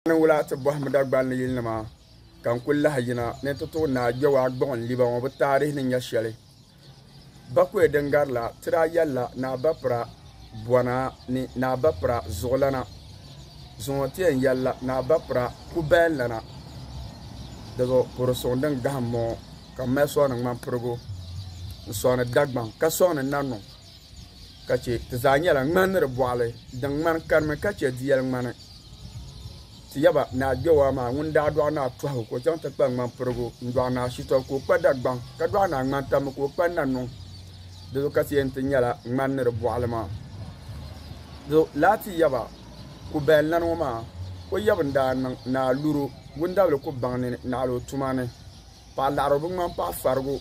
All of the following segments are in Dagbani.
N wula ti bɔhim Dagbani ni yilinima ka n kul lahi yina ni n ti tuɣi Naa Gbewaa gbuɣin liba ŋɔ bɛ taarihi ni nya shɛli. Bakɔi din gari la, ti daa yɛlila Naa Bapira bɔna ni Naa Bapira zuɣulana. Zuŋɔ ti yɛn yɛlila Naa Bapira kubayanlana. Dizuɣu puhiri suŋ din gahim m-bɔŋɔ ka m mali sɔŋni ŋmampirigu n-sɔŋni Dagbaŋ ka sɔŋni Nannuŋ. ka chɛ ti zaa nyɛla ŋmani ni di bɔɣili din ŋmani karimi ka chɛ di yɛli ŋmani. Ti yaba ni a Gbewaa maa ŋun daa dɔɣi ni a tɔhigu ka o chaŋ ti kpa ŋmani pirigu n-dɔɣi ni a shitɔbu ka o kpa Dagbaŋ ka dɔɣi ni a ŋmani tambu ka o kpa Nanuŋ. Di zuɣu ka ti yɛn ti nyɛla ŋmani ni di bɔɣili maa. Di zuɣu laa ti yaba ku bayan lana ŋɔ maa, o yabu n-daa niŋ ni a luri wundabili ku baŋ ni naɣila o tuma ni. paɣa laɣiri o bi ŋmani paɣa farigu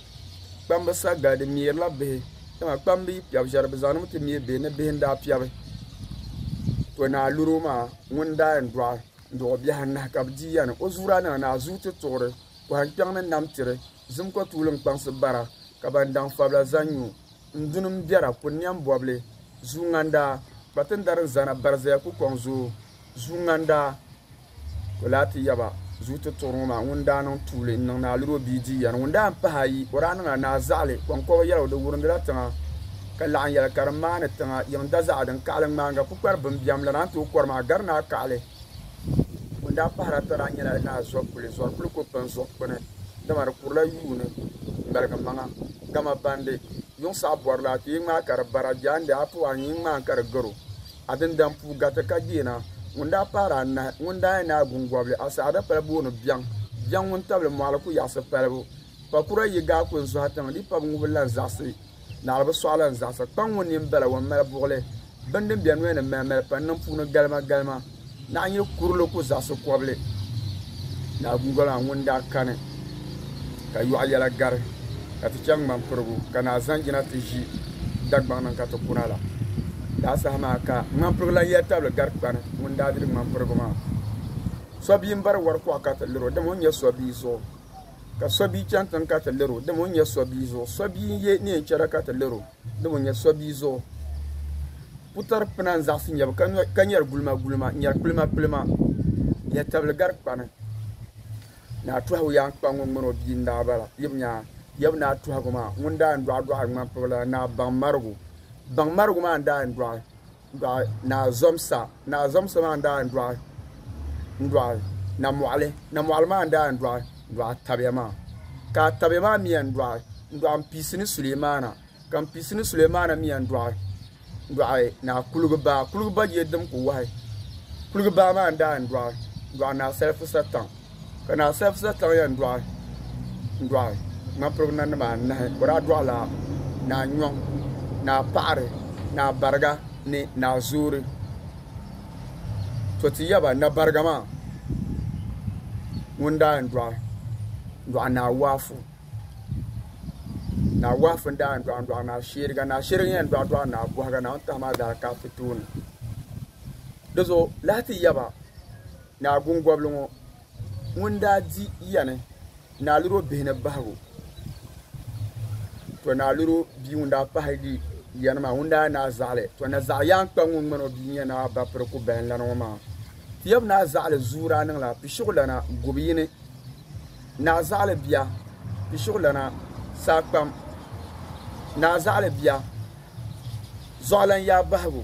kpamba sa gali di meeri la bihi dama kpamba yi piɛbi shɛli bi zaŋdimi ti meei bihi ni bihi n daa piɛbi to naa luro maa ŋun daa yɛn dɔɣi n dɔɣi o bihi anahi ka bi di yani o zuura nima naa zuu ti tuɣiri pɔhim kpɛŋ ni nam tiri zim ko tuuli n kpaŋsi bara ka ban daŋ fabila zaŋ nyu n duni n biɛra kuli niɛm bɔbili zuu ŋandaa kpatindari n zana barizaya ku kɔŋ zoo zuu ŋandaa O lahi ti yaba, Zuyu ti tuɣiri ŋɔ maa, ŋun daa niŋ tuuli n-niŋ ni a liri o bia di yɛri. Ŋun daa m-pahi ayi, o daa niŋla ni a zaɣili kɔŋkɔba yɛligu, di wurindila tiŋa, ka laɣin yɛli ka di maani tiŋa yiŋ dazaɣa din kaɣili ŋmaaniga kpukpari bini biɛm la, naan tooi kɔri maa gari ni a kaɣili. Ŋun daa pahiri ata daa nyɛla ni a zɔri kuli, zɔri kuli ko pini zuɣu kpini, dama di kurila yuuni m-maligi maŋa. Dama bandi, yuŋ saɣi bɔri la, a ti yi ŋmaai ka di bara, jaande a ti wan yi ŋmaai ka di garo. A din dan puu gariti ka deena, ŋun daa paari anahi, ŋun daa yɛn naai gungɔbili, a saha dapala booni biɛŋ, biɛŋ ŋun tabili mɔɣili ku yaɣisi palibu. Pakura yi gaa ku n-zɔhi tiŋ, di pa bi ŋubi lan zaɣisi, naɣili bi sɔɣi lan zaɣisa. Kpaŋ ŋun nini bala wan mali buɣili bini din be noli ni mɛlimɛli pa n-niŋ puuni galimagalima. Naa nyɛ kurili ku zaɣisi kɔbili Naa Guugalaa ŋun daa kani ka yɔɣu yɛla gari ka ti chaŋ ŋmani pirigu ka Naa Zanjina ti ʒi Dagbaŋ ni ka ti kuna la. Daa saha maa ka ŋmani pirigu lan yɛli tabili gari kpani ŋun daa diri ŋmani pirigu maa. Sɔbia m-bari wari kuɣa ka ti lir o dama o nyɛ sɔbia zuɣu, ka sɔbia chani tiŋ ka ti lir o dama o nyɛ sɔbia zuɣu, sɔbia n-ye neen chɛra ka ti lir o. ni bɛ nya sɔbia zuɣu putari pina n-zaɣisi nya ba ka nyari gulimagulima n-nyari kpilimkpilima nyatabili gari kpani ni a tɔhigu yaan kpa ŋun ŋmani o bia n-daa bala yi bi nya ya bi ni a tɔhigu maa ŋun daa yɛn dɔɣidɔɣi ŋmanpibila ni a baŋmarigu baŋmarigu maa n-daa yɛn dɔɣi Dɔɣi Naa Zɔmsa Naa Zɔmsa maa n-daa yɛn dɔɣi n-dɔɣi Namɔɣili Namɔɣili maa n-daa yɛn dɔɣi n-dɔɣi Atabiya maa ka Atabiya maa mi yɛn dɔɣi n-dɔɣi Mpiisi ni Sulemaana ka Mpiisi ni Sulemaana mi yɛn dɔɣi n-dɔɣi Naa Kuligibaa Kuligibaa je din kuli wahi Kuligibaa maa n-daa yɛn dɔɣi n-dɔɣi Naa Salifu Satan Ka naa Sɛfisa taɣi ya n-dɔɣi n-dɔɣi ŋmanpirigu nanima anahi, o daa dɔɣila naa Nyɔŋ, naa Paɣiri, naa Bariga ni naa Zoori. To ti yaba na Bariga maa ŋun daa yɛn dɔɣi n-dɔɣi naa Waafu. Naa Waafu n-daa yɛn dɔɣi n-dɔɣi naa Sheeriga. Naa Sheeriga n-yɛn dɔɣi dɔɣi naa Bɔhiga, naa Ŋuntahi maa daa ka ti tooni. Di zuɣu lahi ti yaba. Naa Gungobili ŋɔ ŋun daa di yani Naaluro bihi ni bahigu, to Naaluro bia ŋun daa pahigi yani maa ŋun daa nyɛ Naa Zaɣili, to na Zaɣi Yaankpa ŋun ŋmani o bia nyɛ Naa Bapiri Kubahinlana ŋɔ maa tiyab Naa Zaɣili zuu daa niŋla Pishiɣulana gubu yini. Naa Zaɣili bia Pishiɣulana saa kpam Naa Zaɣili bia Zɔɣilan yaa bahigu.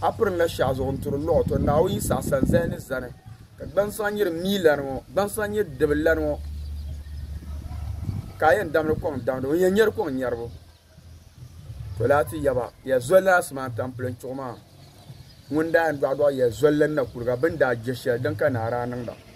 A piri n la shɛɣu zuɣu n turi luɣi to Naawuni yi saɣi sani zani ni zani ka gbansɔŋ nyiri mii lani ŋɔ gbansɔŋ nyiri dibi lani ŋɔ ka a yɛn damdi kɔŋ damdibu n yɛn nyɛri kɔŋ nyɛribu to laa ti yaba ya zolila asimaan tampilim chuɣu maa ŋun daa yɛn dɔɣidɔɣi ya zolila na kuliga bini daa je shɛli din ka naara a niŋda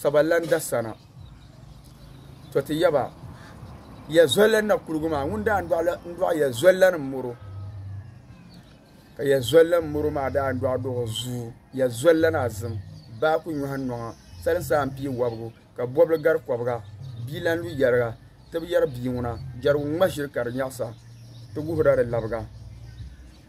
Sabalanda sana. To ti yaba ya zolli na kuligu maa ŋun daa ndɔɣi ya zolli ni moro ka ya zolli ni moro maa daa ndɔɣi dɔɣi zuu ya zolli na zim baa ku nyɔhi nɔŋa sali saa n pii wɔbigu ka bɔbili gari kɔbiga bia lan lu yɛriga ti bi yɛri bia ŋuna jɛrigu ŋma ʒiri ka di nyaɣisa ti guhira di labiga.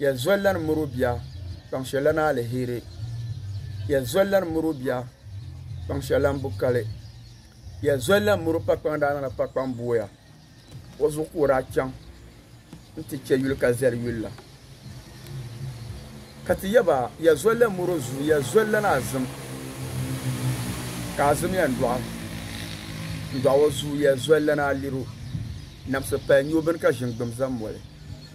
Yɛn zoli la ni miri o bia kpaŋ shɛli la ni aliheri. Yɛn zoli la ni miri o bia kpaŋ shɛli la ni bu kali. Yɛn zoli la ni miri o pa kpaŋ daa niŋla pa kpaŋ booya. O zuɣu ka o daa chaŋ nti chɛ yuli ka zali yuli la. Ka ti yɛ ba, yɛn zoli la ni miri o zuu, yɛn zoli la ni azim ka azim yɛn dɔɣi n dɔɣi o zuu. Yɛn zoli la ni aliro, namsi pali nyoo bini ka ʒini gbim zaŋ moli.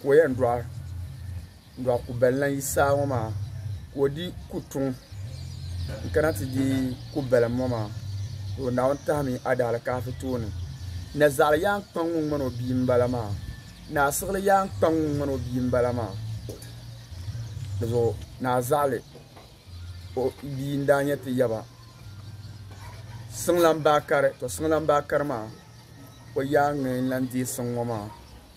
ka o yɛn dɔɣi dɔɣi kubali lan yi saa ŋɔ maa ka o di kutuŋ n-kana ti di kubalim ŋɔ maa ka o Naawuni tahimi adaalikaafi tooni na zaɣili yaan kpaŋ ŋun ŋmani o bia m-bala maa ni a siɣili yaan kpaŋ ŋun ŋmani o bia m-bala maa di zuɣu ni a zaɣili o bia n-daa nyɛ ti yaba siŋlan baa kari to siŋlan baa kari maa o yaan ŋmɛ n-lan deei siŋ ŋɔ maa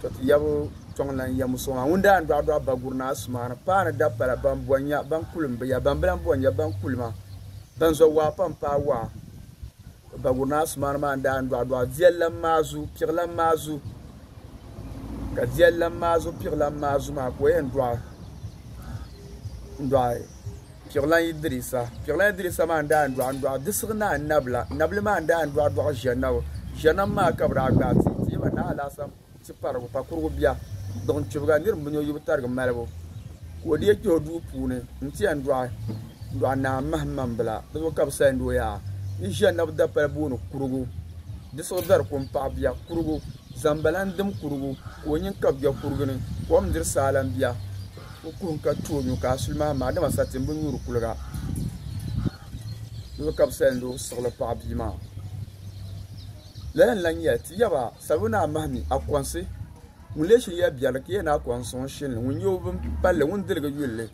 To ti yabu tɔŋ lan ya muso ŋɔ ŋun daa n dɔɣi dɔɣi baguri ni asumaani paai ni dapala ban bɔn ya ban kulim bi ya ban bi lan bɔn ya ban kulima ban zo waa pam paai waa baguri ni asumaani maa n daa n dɔɣi dɔɣi viɛllam maa zu piɣilam maa zu ka viɛllam maa zu piɣilam maa zu maa ka o yɛn dɔɣi n dɔɣi Piɣilan Idirisa. Piɣilan Idirisa maa n-daa n-dɔɣi n-dɔɣi Disigh Naa Nabila. Nabila maa n-daa n-dɔɣi dɔɣi Ʒɛnabu. Ʒɛnabu maa ka bɛ daa gbaai ti ti ba Naa Alaasam Tiparigu pa kurigu bia. Duɣin kpibiga nir m-bini o yi bi tarigi malibu ka o deei kpih o duu puuni n-ti yɛn dɔɣi dɔɣi Naa Mahimmambila. Di zuɣu ka bɛ sahi ni o yaa ni Ʒɛnabu dapali booni kurigu, Disigh dari ko m-paɣi bia kurigu, Zambala n-dim kurigu ka o nyin kabi bia kurigi ni, kom n-diri saa lan bia. O kuhim ka tu o nuu ka a suli mahim ma, dama sa tim bi nyuuri kuliga. Luɣ ka bi sa n-lo siɣili paɣ bia maa. Lala n-lan yɛli, Ti yaba, salibu ni a mahi mi, a kɔnsi. Ŋun lee shiri ya biɛri li, ka yɛn na kɔŋ n-sɔŋ shini li, ŋun nyɛ o bim palli, ŋun diligi yuli li.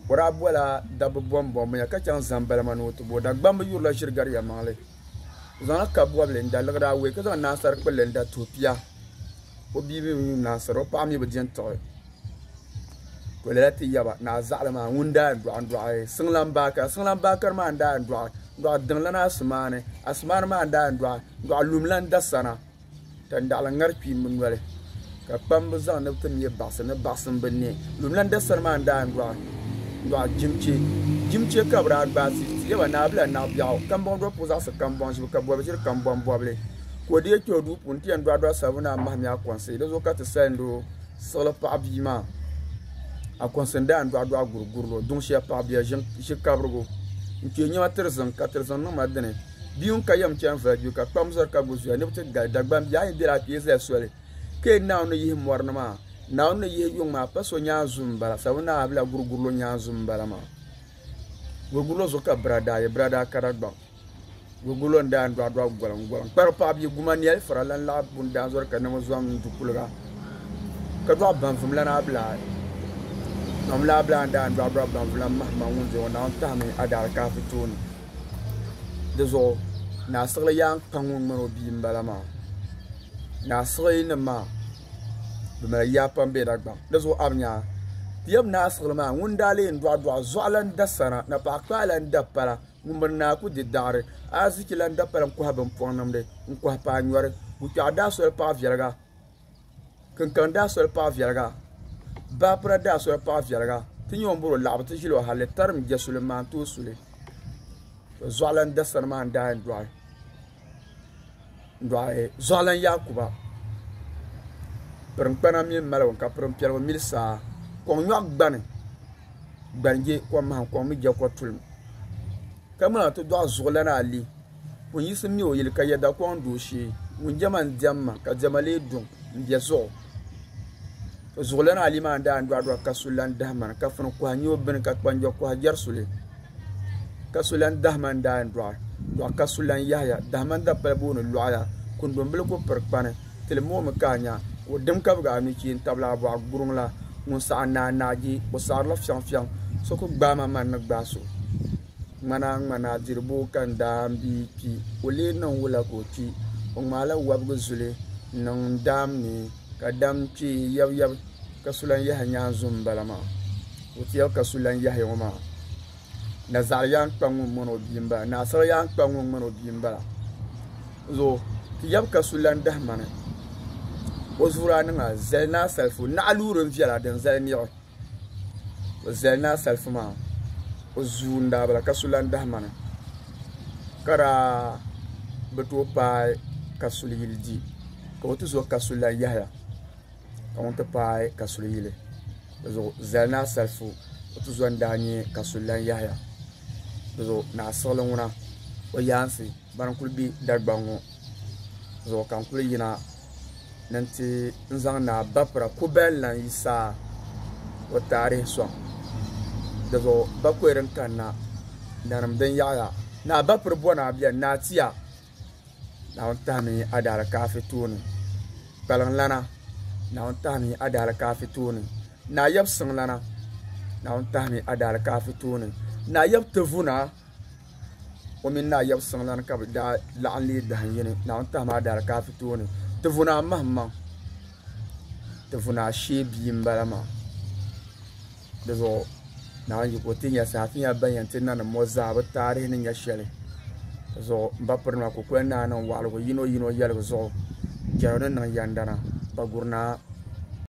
O daa bɔla dabba bɔmbɔmbu ya, ka chaŋ zaŋ balima ni o ti bo o. Dagbamb yurila ʒiri gari yɛlimaŋli. O zaŋla kab bɔbili n-da liɣiri awei, ka zaŋ naansar kpulli n-da tuhi pia. O bia mi bi yuun naansir, o paɣ mi bi di n-tiɣi. ka o lala ti yaba ni a zaɣili maa ŋun daa yɛn dɔɣi dɔɣi siŋlaŋ baakari siŋlaŋ baakari maa n daa yɛn dɔɣi dɔɣi diŋlana asimaani asimaani maa n daa yɛn dɔɣi dɔɣi lumlaŋ dasana ka daɣili ŋari kpiimba noli ka kpamba zaŋ ni bɛ ti me baɣisi ni baɣisi m-bi ne lumlaŋ dasani maa n daa yɛn dɔɣi dɔɣi jimche jimche ka bɛ daa gbaai ti ti yaba ni a bela naɣibiɛɣu kambɔŋ dɔbu puhi zaɣisi kambɔŋ ʒibu ka bɔbi ʒiri kambɔŋ bɔbili ka o deei kpe o duu puuni n-ti yɛn dɔɣi dɔɣi sabbu ni a mahimiya kɔŋsi di zuɣu ka ti salinda o Siɣili paɣa bia maa Akonsi n daan dɔɣi dɔɣi guri guri lo duŋ shɛli paɣa bia ʒi kabirigu n kpee nyɛma tiri ziŋ ka tiri ziŋ niŋ ma dini bia ŋun ka yɛm chɛni vali gbibu ka kpam zɔri ka gbubi zuya ni bi ti gali Dagbaŋ bia a yi bela a kpee zali soli ka yɛn Naawuni ni yihi mɔri ni maa Naawuni ni yihi yuŋ maa pa so nyaanzu n bala sabu naa bila guri guri lo nyaanzu n bala maa guri guri lo zuɣu ka bira daa ye bira daa ka Dagbaŋ. Gogolo n daa dɔɣi dɔɣi goliŋ goliŋ kpari paɣa bia guma nɛli fura lan laɣi bun daa zɔri ka niŋ zɔm n du kuliga ka dɔɣi banfim lan abilaa mam la abilaa n daa dɔɣi dɔɣi banfim lan mahi maŋ ŋun zuɣu naawuni tahimi adaali kaafi tooni di zuɣu naa siɣili yaa n kpa ŋun ŋmani o bia n bala maa naa siɣili nim maa bi mali yaa pam bɛ Dagbaŋ di zuɣu abi nyaa ti yɛm naa siɣili maa ŋun daa lee dɔɣi dɔɣi zuɣu lan da sana napaɣa kpaa lan da pala. Ŋumbuni naa ku di daɣiri, ariziki lan da pali n-kɔhi bimpɔŋnimdi, n-kɔhi paanyɔri. Bukpɛɣu daa soli paɣ viɛliga, kinkaŋ daa soli paɣ viɛliga, baapura daa soli paɣ viɛliga. Ti nya o ni bɔri o laɣibu nti ʒili o halli, tarim jɛsuli n-maa n-tooi su li. Zuɣulan dasani maa n-daa yɛn dɔɣi. Dɔɣi Zuɣulan Yaakuba pirinkpana mini maligu ka pirimpiɛligu mili saa kɔŋ nyɔɣu gbani gbanjɛ kɔŋ mahim kɔŋ mi jɛkɔ tulim ka ŋuna ti dɔɣi Zuɣulan Ali ŋun yiɣisim mɛ o yili ka yɛda kɔŋ dooshee ŋun jɛma n-diɛmma ka diɛma lee duŋ m-be zuɣu. Zuɣulana Ali maa daa n-dɔɣi dɔɣi Kasu lan Dahman, ka funi kɔha nyo bini ka kpanjɔ kɔha jɛri suli. Kasu lan Dahman daa n-dɔɣi dɔɣi Kasu lan Yahaya. Dahman dapal booni Lɔɣaya. Kundɔmbili ku piri kpani. Ti li moomi ka a nya o dim kabigi a nuchee n-tabili a bɔɣu guruŋ la. Ŋun saɣi naa naagi, o saɣirila fiɛŋfiɛŋ. So ku gbaai ma man ni gbaai so. Ŋmanaa ŋmanaa diribo ka n daa n bi kpi. O lee niŋ wula ka o kpi? O ŋmaala wɔbigu zuli niŋ n daam ni. Ka dam kpe yab yab ka so lan yahi nyaanzum m-bala maa. O tiɛbu ka so lan yahi ŋɔ maa. Nazaɣili yaan kpa ŋun ŋmani o bia m-bala. Naasara yaan kpa ŋun ŋmani o bia m-bala. Zuɣu ti yab ka so lan dahi mani. O zuɣuri a niŋ a zali ni a salifu naɣiluuri n-viɛla din zali niɣi. o zali naa salifu maa o zuu n daa bala ka su lan dahi mana ka daa bi tooi paai ka suli yili di ka o ti zo ka su lan yahiya ka ŋun ti paai ka suli yili di zuɣu zali naa salifu o ti zo n daa nyɛ ka suli lan yahiya di zuɣu naa siɣili ŋuna o yaansi Ban kuli be Dagbaŋ ŋɔ zuɣu ka n kuli yina ni n ti n zaŋ Naa Bapra Kubel Lan Yi Saa o taarihi sɔŋ. Di zuɣu Bakɔi din kanna nanim din yaɣiya Naa Bapri Bɔna beni, Naa Tia, Naawuni tahimi yi adaalikaafi tooni, Kpaliŋlana, Naawuni tahimi yi adaalikaafi tooni, Naa Yab Siŋlana, Naawuni tahimi yi adaalikaafi tooni, Naa Yab Tivuna, o mini naa yab siŋlani ka bɛ daa laɣim leei dahin yini Naawuni tahima adaalikafi tooni ti vuna mahimaŋ ti vuna ashee bia m bala maa di zuɣu Naawuni yiko ti nya saha ti nya ban yɛn ti nanim ŋɔ zaa bɛ taarihi ni nya shɛli di zuɣu m ba pirinima kukoli naa niŋ waɣiligu yino yino yɛligu zuɣu jɛrigu ni niŋ yɛndana Bagurinaa